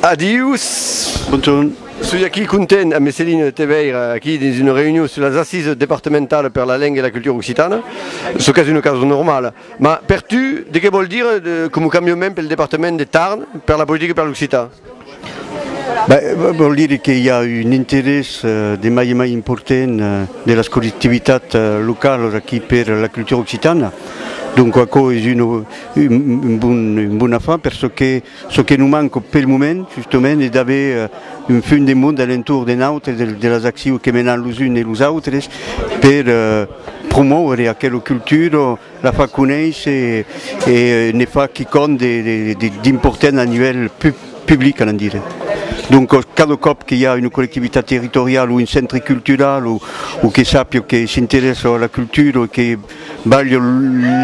Adius! Bontorn. Soi aquí content ambe Céline de te veire aquí dins una reunion sus las Assises departamentales per la lenga e la cultura occitana, çò qu'es una causa normala. Mas per tu, de qué vòl dire de, coma cambiament pel departament de Tarn, per la politica per l'occitan? Ben, vòl dire que i a un interès de mai en mai important de las collectivitats localas aquí per la cultura occitana. Donc aquò es un un bon afar per çò que çò que nos manca pel moment justament es d'aver un fum de monde a l'entorn de nautres, de las accions que menam los uns e los autres per promòure aquela cultura, La fa conéisser e ne fa quicòm d'important a nivèl public, anam dire. Donc, cada còp que i a una collectivitat territoriala o un centre cultural o que sàpia que s'interèssa a la cultura o que balha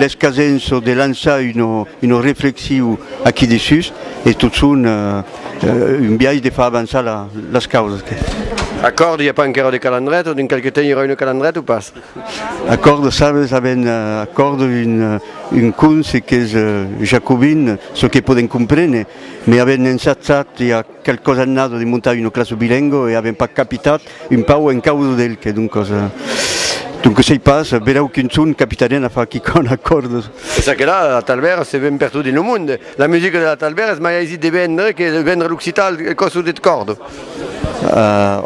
l'escasença de lançar una reflexiu aquí dessús, es totson un biais de far avançar las causas. Acòrdi, i a pas encara de calandret o dins qualque temps i aurà una calandret o pas? Aquò de sabes avèn aquò d'un conse qu'es jacobin, çò que podèm comprene, me avèn ensatzat i a qualques annadas de montar una classa bilengua e avèm pas capitat un pauc en causa d'el que doncas doncas sei pas, berèu qu'un ton capitarien a far quicòm aquò de. E ça que la Talbèra se ven pertot dins lo monde, la musica de la Talbèra es mai aisit de vendre que vendre l'occitan al còsut deth còrdon.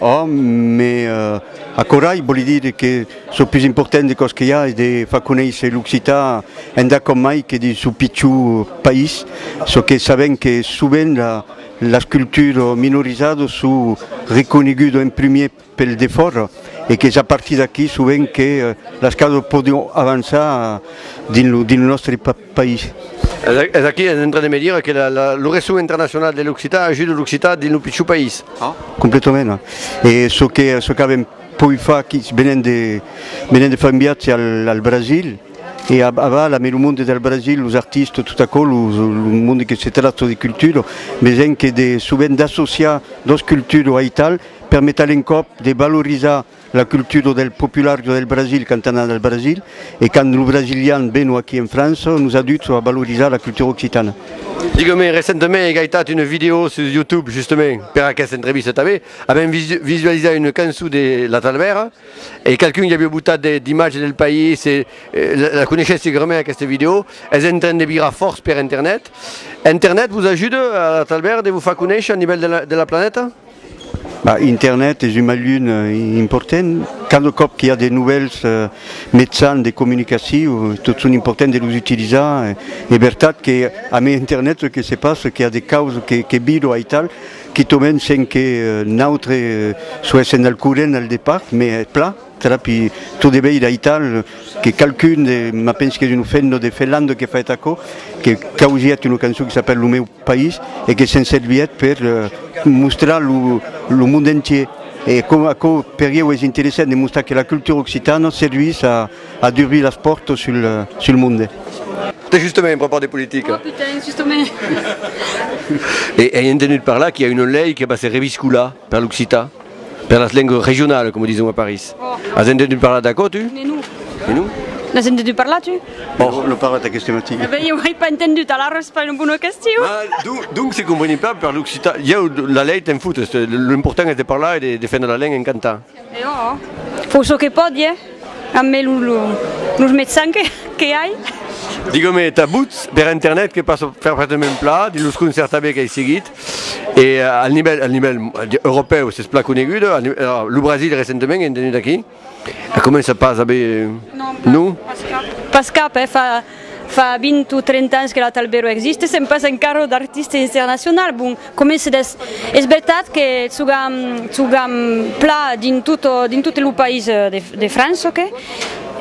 Òm, me. Acorai, vòli dire que çò pus important de còs que i a es de far conéisser l'occitan endà com mai que dins çò pichor país, çò que sabèm que sovent las cultures minorizadas son reconegudas en primièr pels de fòra e qu'es a partir d'aquí sovent que las causas pòdon avançar dins lo nòstre país. país. Es aquí, es en train de me dire que lo resson internacional de l'occitan ajuda l'occitan dins lo pichor país. Ah, completament. E çò que çò qu'avèm poi far aquí, venent de venent de far un viatge al al Brasil e a a bas la mai lo monde del Brasil, los artistes, tot aquò, lo lo monde que se tracta de cultura, me sent que de sovent d'associar dos culturas aital permeta l'encòp de valorizar La cultura del popular jo del Brasil quand anam al Brasil e quand lo brasilian veno aquí en França nos ajuda a valorizar la cultura occitana. Digueu-me, recentament ai gaitat una vidèo sus YouTube justament per aquesta entrevista tanben, avèm visualizat una cançon de La Talbèra e qualqu'un i aviá botat de d'imatges del país e la coneishètz segurament aquesta vidèo, es en train de virar fòrç per internet. Internet vos ajuda a La Talbèra de vos far conéisher a nivèl de la planeta? Internet es un mejun important, cada còp qu'i a de novèls metzans de comunicaciu tot son important de los utilizar, es vertat que a mi internet çò que se passa qu'i a de causas que vido aital quitament sens que nautre soéssem al corrent al depart, mai es plan trapi tot de veire aital que qualqu'un de, ma pensi qu'es un fenno de Felando que faèt aquò, que causièt una cançon qui s'apèl Lo meu. país e que se'n servièt per mostrar lo monde entier e aquò per ieu es interessant de mostrar que la cultura occitana servís a durbir las pòrtas sul monde. Tà justament en prepar de politica. Ai entenut parlar qu'i a una lei que va se reviscolar. Per l'occitan, per las lengues regionales, coma dison a París. As entenut parlar d'aquò, tu? Ne non. Ne non? N'as entenut parlar, tu? Òh, l'ò parlat aqueste matin. Ben, ieu ai pas entenut, alara es pas una bona question. Mas, donc, se comprenem pas per l'occitan? Ieu, la lei, te'n foutes, lo important es de parlar e de defendre la lenga en cantant. E òh, fau çò que pòdi, eh? Ambe los mejans que ai. Digue-me, t'abuts per internet que pas fèr prètament plan, dins los concerts tanben qu'ai seguit? E al nivèl, al nivèl europèu s'es plan conegut, lo Brasil recentement en tenut aquí, la comença pas a aver, non? Pas cap, eh, fa fa 20 o 30 ans que la Talbero existe, sèm pas encara o d'artiste internacional, bon, comença d'es, es vertat que chogam, chogam pla dins tot, dins tot lo país de de França, ok?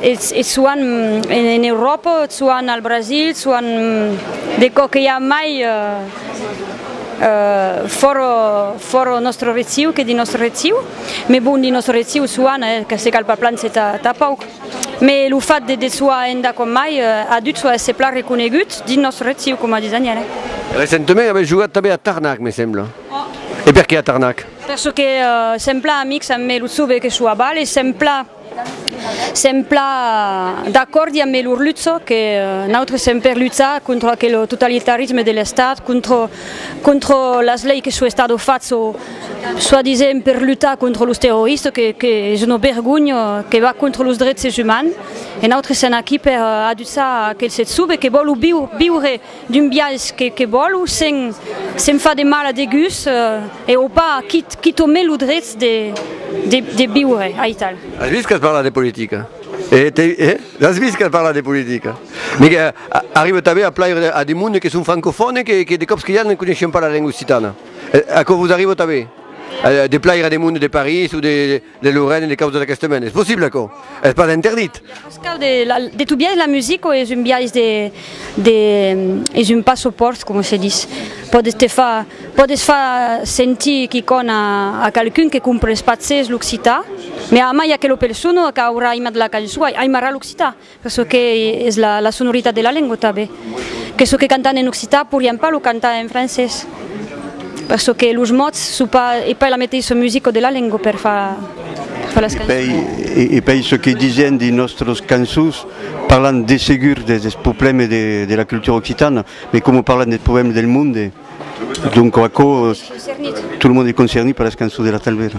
E e soan en Euròpa, soan al Brasil, soan de cò que i a mai. Fòra, fòra nòstre retiu, que dins nòstre retiu. Mes bon, dins nòstre retiu soan, eh, que se cal pas plan se ta, ta pauc. Mes lo fat de, de soar enda com mai, a dut soar èsser plan reconegut dins nòstre retiu, coma dis Daniel, eh. Recentement avètz jogat tanben a Tarnac, me sembla. Oh. E perqué a Tarnac? Per çò que sèm plan amics, amb mes lo Tsobe que soa bal, e sèm plan. Sèm plan d'acòrdi amb Melur Lutzo que nautres sèm per luchar contra aquel totalitarisme de l'Estat, contra las leis que çò Estado fach çò soi disent per luchar contra los terroristes que es una bergonha que va contra los dreches umans e nautres sèm aquí per aduchar aquel sèt sube que vòlu viure D'un biais que que vòl o sen se'n fa de mal a degús e o pas, quit quit o me lo drets de de de viure, aital. As vist qu'as parlat de politica? E te e? L'as vist qu'as parlat de politica? Me que arrive tanben a plaire a de monde que son francofòn e que que de còps que i a ne coneishen pas la lenga occitana. Aquò vos arrive tanben? De plaire a de monde de París o de De lo Rèn e de causa d'aqueste mèn. Es possible aquò? Es pas interdit? De tu biais la musica o es un biais de de es un passopòrt coma se dis? Pòdes te far pòdes far sentir quicòna a qualqu'un que compres pas zes l'occitan, mai a mai aquela persona qu'a aurà aimat la cançon aimarà l'occitan. çò que es la sonoritat de la lengua tanben, que çò que cantan en occitan pourrián pas lo cantar en francés, per çò que los mots son pas, es pas la meteissa musica de la lengua per far las cançons. E pei çò que disián dins nòstras cançons, parlan de segur des problèmes de la cultura occitana, mai coma parlan des problèmes del monde, donc aquò, tot lo monde es concernit per las cançons de la Talvera.